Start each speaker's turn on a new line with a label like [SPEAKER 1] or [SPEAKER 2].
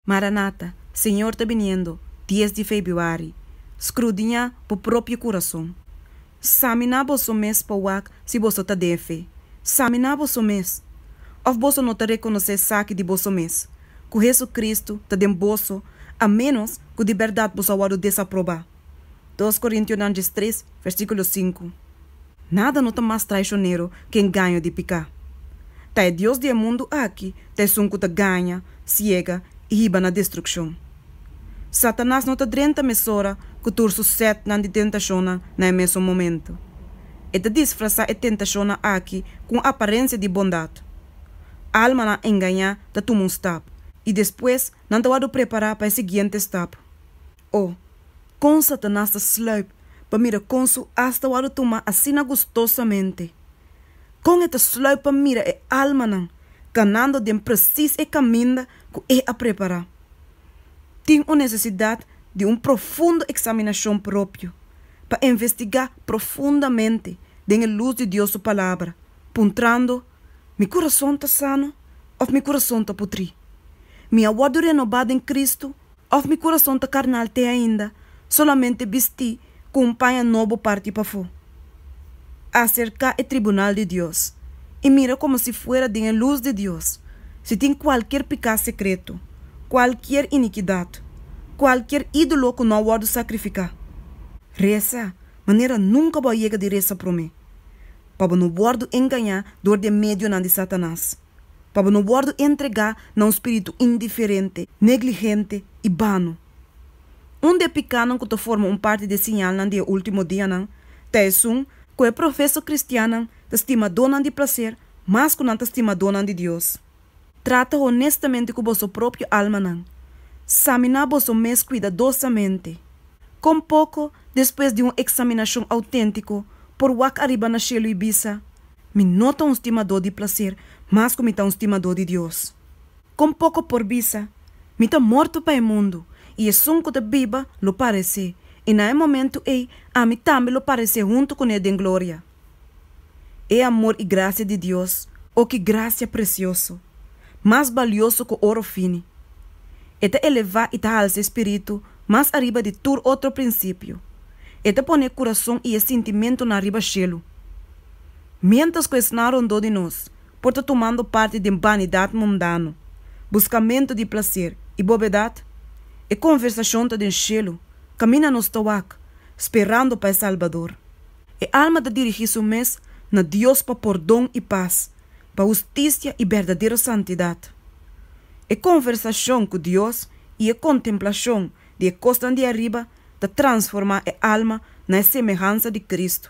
[SPEAKER 1] Maranata, Señor ta biniendo, dies di Febiuari, Skrudiñá bo propio kurason. Saminá boso mes pa wak si boso ta den fe. Saminá boso mes. Òf boso no ta rekonosé esaki di boso mes, ku Hesukristu ta den boso, a ménos ku di bèrdat boso a wòrdu desaprobá. Dos Korintiunan djes tres, versíkulo sinku, Nada no ta mas traishonero ku e engaño di piká. Ta e dios di e mundu aki ta esun ku ta gaña, siega i hiba na destrukshon. Satanas no ta drenta mesora ku tur su sètnan di tentashonnan na e mesun momentu. E ta disfrasá e tentashonnan aki ku un aparensia di bondat. Almanan engañá ta tuma un stap, i despues nan ta wòrdu prepará pa e siguiente stap. O, kon Satanas ta sluip pa mira kon su as ta wòrdu tumá asina gustosamente! Kon e ta sluip pa mira e almanan kanando den presis e kaminda ku e a prepará! Tin un nesesidat di un profundo eksaminashon propio pa investigá profundamente den e lus di Dios su Palabra, puntrando, Mi kurason ta sano òf mi kurason ta putrí? Mi a wòrdu renobá den Kristu òf mi kurason ta karnal te ainda solamente bistí ku un paña nobo parti pafó? Aserká e tribunal di Dios i mira komo si fuera den e lus di Dios si tin kualkier piká sekreto, kualkier inikidat, kualkier ídolo ku no a wòrdu sakrifiká. Resa manera nunka bo a yega di resa promé. pa bo no wòrdu engañá dor di e medionan di Satanas, pa bo no wòrdu entregá na un spiritu indiferente, negligente i bano. Un di e pikánan ku ta forma un parti di e siñalnan di e último dianan ta esun ku e profeso kristiannan ta stima donnan di plaser mas ku nan ta stima donnan di Dios. Trata honestamente cu boso propio almanan. Samina boso mes cuidadosamente. Con poco despues di un examinacion autentico, por wak ariba na cielo y bisa, Mi no ta un stimador di placer, mas cu mi ta un stimador di Dios. Con poco por bisa, Mi ta morto pa e mundo, y esun cu ta biba lo parece, y na e momento ey ami tambe lo parece hunto cu ne den gloria. E amor i gracia di Dios, o ki gracia precioso, mas balioso cu oro fini. E ta eleva i ta halsa e spiritu mas ariba di tur otro principio. E ta pone e curason i e sintimentonan riba shelu. Mientras cu esnan rondó di nos por ta tumando parti den banidad mundano, buscamento di placer i bobedad, e conversacion ta den shelu, caminda nos ta wak, sperando pa e Salbador. E alma ta dirigí su mes na Dios pa pordon i pas, pa hustisia i berdadero santidat. E konversashon ku Dios i e kontemplashon di e kosnan di ariba ta transformá e alma na e semehansa di Kristu.